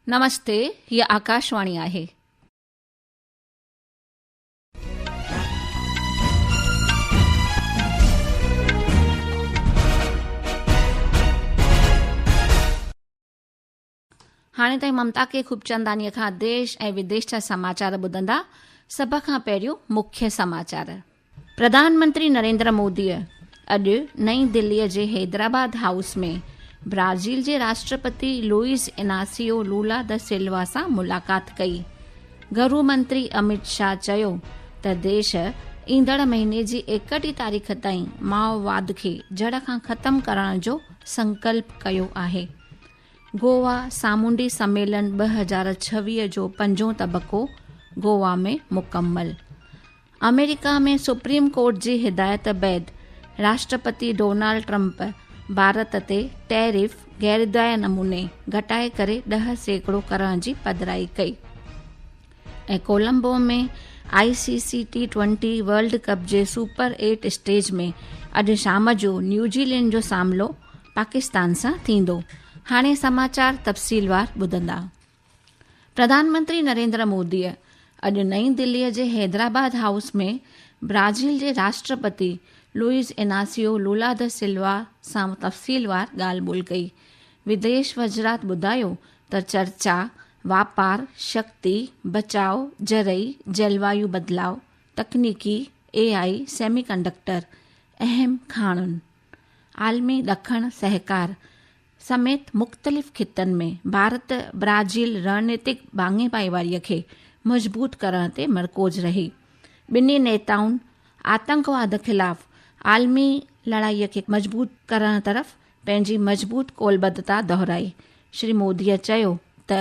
نمستي هي آڪاشواڻي آهي. هاڻي تائين ممتا کي خوبچنداني کان ديش ۽ وديش جا سماچار ٻڌندا سڀ کان پهريون مکيه سماچار پرڌان منتري نريندر موديء اڄ نئين دهليء جي حيدرآباد هائوس ۾ برازيل جي راشٽرپتي لوئيز اناسيو لولا د سلوا سان ملاقات ڪئي. گهرو منتري اميت شاهه چيو ته ديش ايندڙ مهيني جي ايڪٽيهه تاريخ تائين مائوواد کي جڙ کان ختم ڪرڻ جو سنڪلپ ڪيو آهي. گووا سامونڊي سميلن ٻه هزار ڇويهه جو پنجون تبڪو گووا ۾ مڪمل. آمريڪا ۾ سپريم ڪورٽ جي هدايت بعد راشٽرپتي ڊونالڊ ٽرمپ ڀارت تي ٽيرف غيردايا نموني گهٽائي ڪري ڏهه سيڪڙو ڪرڻ جي پڌرائي ڪئي ۽ Colombo ۾ I C C T twenty world cup جي سپر ايٽ اسٽيج ۾ اڄ شام جو نيوزي لينڊ جو ساملو پاڪستان سان ٿيندو هاڻي سماچار تفصيلوار ٻڌندا پرڌان منتري نريندر موديء اڄ نئين دهليء جي حيدرآباد هائوس ۾ برازيل جي راشٽرپتي لوئيز اناسيو لولا د سلوا سان تفصيلوار ڳالهه ٻولهه ڪئي. وديش وزرات ٻڌايو ته چرچا واپار، شڪتي، بچاء، زرعي، جلوايو بدلاء، تڪنيڪي، اي آء، سيمي ڪنڊڪٽر، اهم کاڻين، عالمي ڏکڻ سهڪار، سميت مختلف خطن ۾ ڀارت برازيل رڻنيتڪ ڀاڱي ڀائيواري کي مضبوط ڪرڻ تي مرڪوز رهي. ٻنهي نيتائن آتنڪواد خلاف عالمي لڙائي کي مضبوط ڪرڻ طرف پنهنجي مضبوط قولبڌتا دهرائي. شري مودي چيو ته.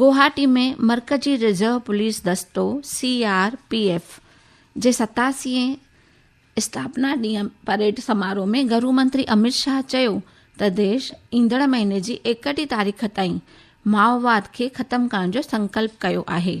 گوهاٽي ۾ مرڪزي رزرو پوليس دستو، سي آر پي ايف، جي ستاسينهين اسٿاپنا ڏينهن پريڊ سماروهه ۾ گهرو منتري اميت شاهه چيو ته ديش ايندڙ مهيني جي ايڪٽيهه تاريخ تائين مائوواد کي ختم ڪرڻ جو سنڪلپ ڪيو آهي.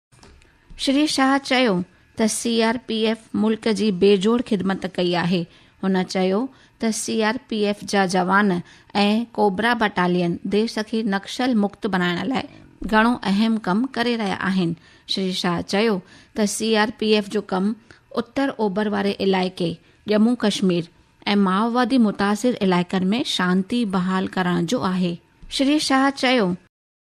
شري شاهه چيو ته سي آر پي ايف ملڪ جي بي جوڙ خدمت ڪئي آهي، هن چيو ته سي آر پي ايف جا جوان ۽ ڪوبرا بٽالين ديش کي نڪسل مڪت بڻائڻ لاء گهڻو اهم ڪم ڪري رهيا آهن، شري شاهه چيو ته سي آر پي ايف جو ڪم اتر اوڀر واري علائقي ڄمون ڪشمير ۽ مائووادي متاثر علائقن ۾ شانتي بحال ڪرڻ جو آهي. شري شاهه چيو.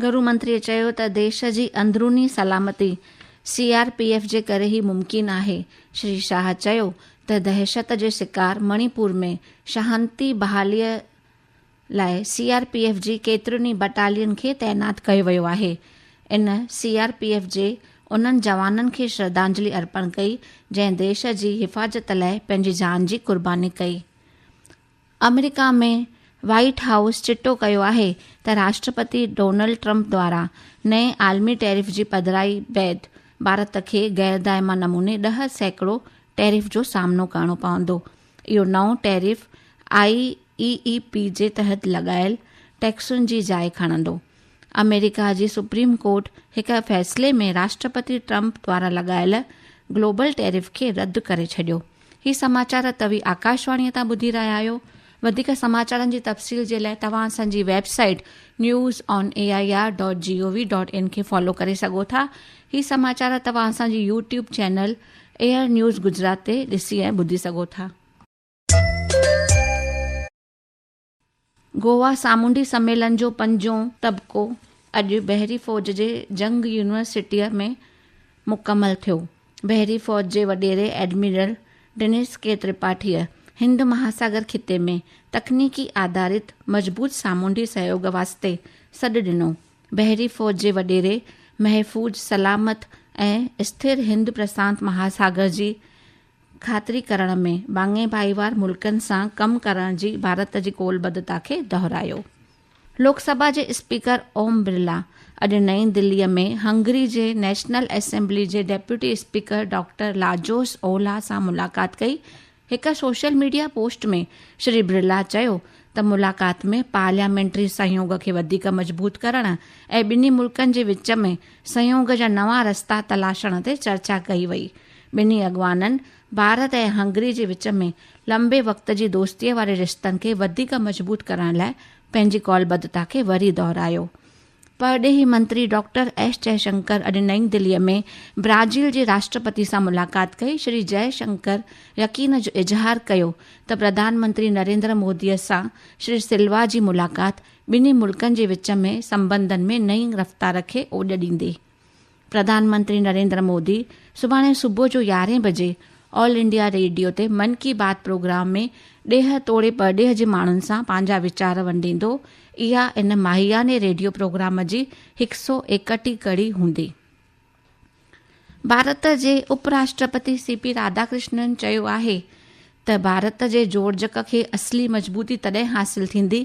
گهرو منتريء چيو ته ديش جي اندروني سلامتي سي آر پي ايف جي ڪري ئي ممڪن آهي. شري شاهه چيو ته دهشت جي شڪار مڻي پور ۾ شهانتي بحاليء لاء سي آر پي ايف جي ڪيترين ئي بٽالين کي تعينات ڪيو ويو آهي. ان سي آر پي ايف جي انهن جوانن کي شرڌانجلي ارپڻ ڪئي جنهن ديش جي حفاظت لاء پنهنجي جان جي قرباني ڪئي. آمريڪا ۾ وائيٽ هائوس چٽو ڪيو آهي ته راشٽرپتي ڊونلڊ ٽرمپ دوران نئين عالمي ٽيرف جي پڌرائي بعد ڀارت کي غيردائمه نموني ڏهه سيڪڙو ٽيرف جو سامنو ڪرڻو پوندو. اهو نئون tariff I E E P جي تحت لڳايل ٽيڪسن جي جاء کڻندو. آمريڪا جي سپريم ڪورٽ هڪ فيصلي ۾ راشٽرپتي ٽرمپ دوارا لڳايل گلوبل ٽيرف کي رد ڪري ڇڏيو هي سماچار توي آڪاشواڻي تان ٻڌي رهيا آهيو وڌيڪ سماچارن جي تفصيل جي لاء توهان اسان جي website news on A I R dot G O V dot in کي فالو ڪري سگهو ٿا هي سماچار توهان اسان جي YouTube channel air news Gujarat تي ڏسي ۽ ٻڌي سگهو ٿا گووا سامونڊي سميلن جو پنجون طبقو اڄ بحري فوج جي جنگ يونيورسٽيء ۾ مڪمل ٿيو. بحري فوج جي وڏيري ايڊميرل ڊينس ڪي ترپاٺيء هند مهاساگر خطي ۾ تڪنيڪي آڌارت مضبوط سامونڊي سهيوڳ واسطي سڏ ڏنو. بحري فوج جي وڏيري محفوظ، سلامت ۽ اسٿر هند پرسانت مهاساگر جي خاطري ڪرڻ ۾ ٻانگهي ڀائيوار ملڪن سان ڪم ڪرڻ جي ڀارت جي قولبدتا کي دهرايو. لوڪ سڀا جي اسپيڪر اوم برلا اڄ نئين دهليء ۾ هنگري جي نيشنل اسيمبلي جي deputy speaker doctor Lajos Olah سان ملاقات ڪئي. هڪ social media post ۾ Shri Birla چيو ته ملاقات ۾ پارليامينٽري سهيوڳ کي وڌيڪ مضبوط ڪرڻ ۽ ٻنهي ملڪن جي وچ ۾ سهيوڳ جا نوان رستا تلاشڻ تي چرچا ڪئي وئي ٻنهي اڳواڻن ڀارت ۽ هنگري جي وچ ۾ لنبي وقت جي دوستيء واري رشتن کي وڌيڪ مضبوط ڪرڻ لاء پنهنجي قول ٻڌتا کي وري دهرايو. پرڏيهي منتري ڊاڪٽر ايس جئه شنڪر اڄ نئين دهليء ۾ برازيل جي راشٽرپتي سان ملاقات ڪئي، شري جئه شنڪر يقين جو اظهار ڪيو ته پرڌان منتري نريندر موديء سان شري سلوا جي ملاقات ٻنهي ملڪن جي وچ ۾ سنٻنڌن ۾ نئين رفتار کي اوڄ ڏيندي. پرڌان منتري نريندر مودي سڀاڻي صبح جو يارهين بجي آل انڊيا ريڊيو تي من ڪي بات پروگرام ۾ ڏيهه توڙي پرڏيهه جي ماڻهن سان پنهنجا ويچار ونڊيندو، اها ان ماهياني ريڊيو پروگرام جي هڪ سؤ ايڪٽي ڪڙي هوندي. ڀارت جي اپ راشٽرپتي سي پي راڌا ڪرشنن چيو آهي ته ڀارت جي جوڙجڪ کي اصلي مضبوطي تڏهن حاصل ٿيندي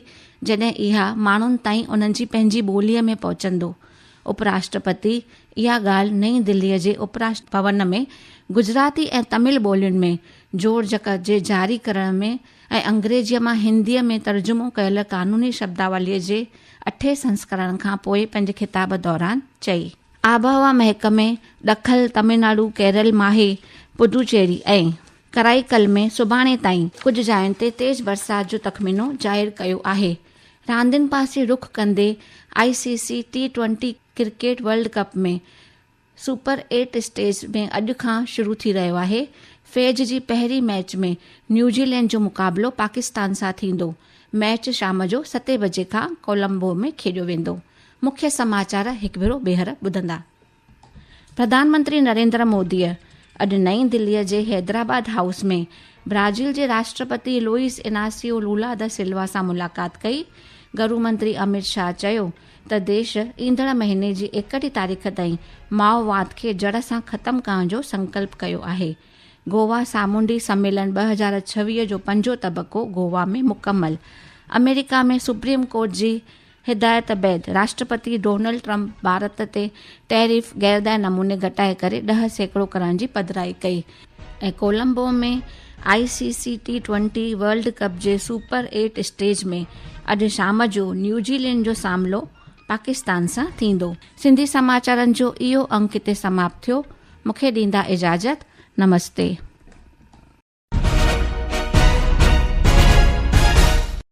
جڏهن اها ماڻهن تائين انهن جي پنهنجي ٻوليء ۾ پهچندو. اپ راشٽرپتي اها ڳالهه نئين دليء جي اپ راشٽر ڀون ۾ گجراتي ۽ تمل ٻولين ۾ جوڙجڪ جي جاري ڪرڻ ۾ ۽ انگريزيء مان هنديء ۾ ترجمو ڪيل قانوني شبداوليء جي اٺين سنسڪرڻ کان پوء پنهنجي خطاب دوران چئي. آبهوا محڪمي ڏکل، تمل ناڊو، ڪيرل، ماهي، پڊوچيري ۽. ڪرائيڪل ۾ سڀاڻي تائين ڪجهه جاين تي تيز برسات جو تخمينو ظاهر ڪيو آهي. راندين پاسي رخ ڪندي I C C T twenty cricket world cup ۾ super eight stage ۾ اڄ کان شروع ٿي رهيو آهي فيج جي پهرين ميچ ۾ نيوزيلينڊ جو مقابلو پاڪستان سان ٿيندو ميچ شام جو ستين بجي کان ڪولمبو ۾ کيڏيو ويندو مکيه سماچار هڪ ڀيرو ٻيهر ٻڌندا. پرڌان منتري نريندر موديء اڄ نئين دهليء جي حيدرآباد هائوس ۾ برازيل جي راشٽرپتي لوئيس اناسيو لولا د سلوا سان ملاقات ڪئي. گهرو منتري اميت شاهه چيو ته ديش ايندڙ مهيني جي ايڪٽيهه تاريخ تائين مائوواد کي جڙ سان ختم ڪرڻ جو سنڪلپ ڪيو آهي. گووا سامونڊي سميلن ٻه هزار ڇويهه جو پنجون طبقو گووا ۾ مڪمل، آمريڪا ۾ سپريم ڪورٽ جي هدايت بعد راشٽرپتي ڊونلڊ ٽرمپ ڀارت تي ٽيرف غيردائي نموني گهٽائي ڪري ڏهه سيڪڙو ڪرڻ جي پڌرائي ڪئي ۽ Colombo ۾ I C C T twenty world cup جي سپر ايٽ اسٽيج ۾ اڄ شام جو نيوزي لينڊ جو ساملو پاڪستان سان ٿيندو. سنڌي سماچارن جو اهو انڪ هتي سماپت ٿيو. مونکي ڏيندا اجازت. نمستي.